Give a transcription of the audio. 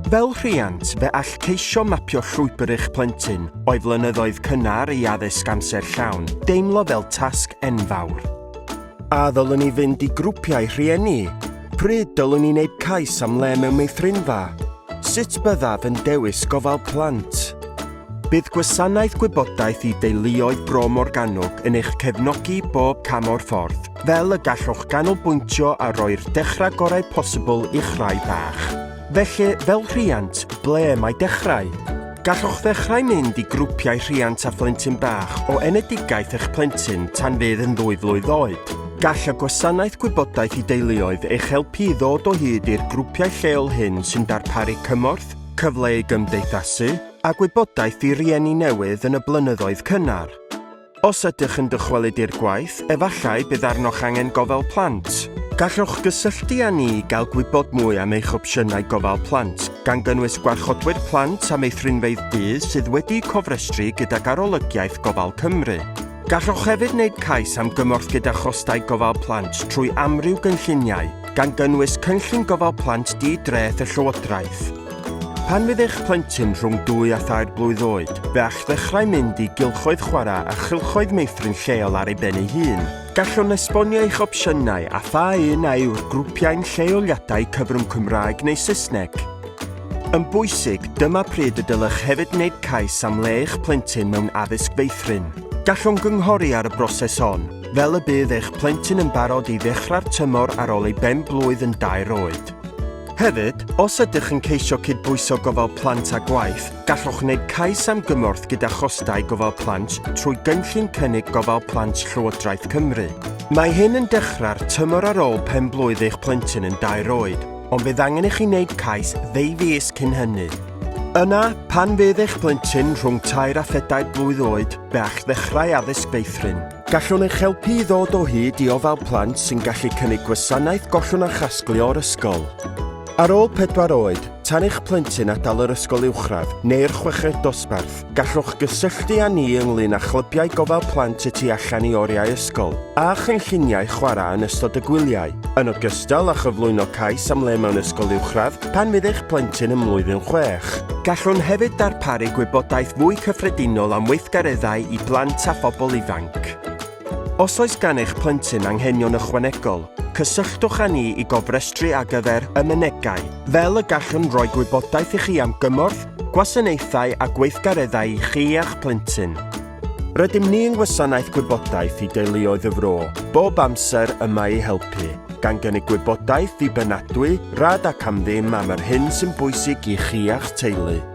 Fel rhiant, fe all ceisio mapio llwybr eich plentyn o'i flynyddoedd cynnar i addysg amser llawn deimlo fel tasg enfawr. A ddylwn ni fynd i grwpiau rhieni? Pryd dylwn ni wneud cais am le mewn meithrinfa? Sut byddaf yn dewis gofal plant? Bydd Gwasanaeth Gwybodaeth i Deuluoedd Bro Morgannwg yn eich cefnogi bob cam o'r ffordd, fel y gallwch ganolbwyntio a roi'r dechrau gorau posibl i'ch rhai bach. Felly, fel rhiant, ble mae dechrau? Gallwch ddechrau mynd i grwpiau rhiant a phlentyn bach o enedigaeth eich plentyn tan fydd yn ddwy flwydd oed. Gall y Gwasanaeth Gwybodaeth i Deuluoedd eich helpu i ddod o hyd i'r grwpiau lleol hyn sy'n darparu cymorth, Cyfle i gymdeithasu a gwybodaeth i rieni newydd yn y blynyddoedd cynnar. Os ydych yn dychwelyd i'r gwaith, efallai bydd arnoch angen gofal plant. Gallwch gysylltu â ni i gael gwybod mwy am eich opsiynau gofal plant, gan gynnwys gwarchodwyr plant a meithrinfeydd du sydd wedi'u cofrestru gydag Arolygiaeth Gofal Cymru. Gallwch hefyd wneud cais am gymorth gyda chostau gofal plant trwy amryw gynlluniau, gan gynnwys Cynllun Gofal Plant Di-dreth y Llywodraeth. Pan fydd eich plentyn rhwng dwy a thair blwydd oed, fe all ddechrau mynd i gylchoedd chwarae a chylchoedd meithrin lleol ar ei ben ei hun. Gallwn esbonio eich opsiynau a pha un a yw'r grwpiau'n lleoliadau cyfrwng Cymraeg neu Saesneg. Yn bwysig, dyma pryd y dylech hefyd wneud cais am le eich plentyn mewn addysg feithrin. Gallwn gynghori ar y broses hon, fel y bydd eich plentyn yn barod i ddechrau'r tymor ar ôl ei ben-blwydd yn dair oed. Hefyd, os ydych yn ceisio cydbwyso gofal plant a gwaith, gallwch wneud cais am gymorth gyda chostau gofal plant trwy Gynllun Cynnig Gofal Plant Llywodraeth Cymru. Mae hyn yn dechrau'r tymor ar ôl pen-blwydd eich plentyn yn dair oed. ond bydd angen i chi wneud cais ddeu fis cyn hynny. Yna, pan fydd eich plentyn rhwng tair a phedair blwydd oed, fe a'ch ddechrau addysg feithrin. Gallwn eich helpu i ddod o hyd i ofal plant sy'n gallu cynnig gwasanaeth gollwng a chasglu o'r ysgol. Ar ôl pedwar oed, tan eich plentyn adael yr ysgol uwchradd neu'r chweched dosbarth, Gallwch gysylltu â ni ynglŷn â chlybiau gofal plant y tu allan i oriau ysgol a chynlluniau chwarae yn ystod y gwyliau, yn ogystal â chyflwyno cais am le mewn ysgol uwchradd pan fydd eich plentyn ym mlwyddyn chwech. Gallwn hefyd darparu gwybodaeth fwy cyffredinol am weithgareddau i blant a phobl ifanc. Os oes gan eich plentyn anghenion ychwanegol, cysylltwch â ni i gofrestru ar gyfer y Mynegai, fel y gallwn roi gwybodaeth i chi am gymorth, gwasanaethau a gweithgareddau i chi a'ch plentyn. Rydym ni yng Ngwasanaeth Gwybodaeth i Deuluoedd y Fro bob amser yma i helpu, gan gynnig gwybodaeth ddibynadwy, rad ac am ddim am yr hyn sy'n bwysig i chi a'ch teulu.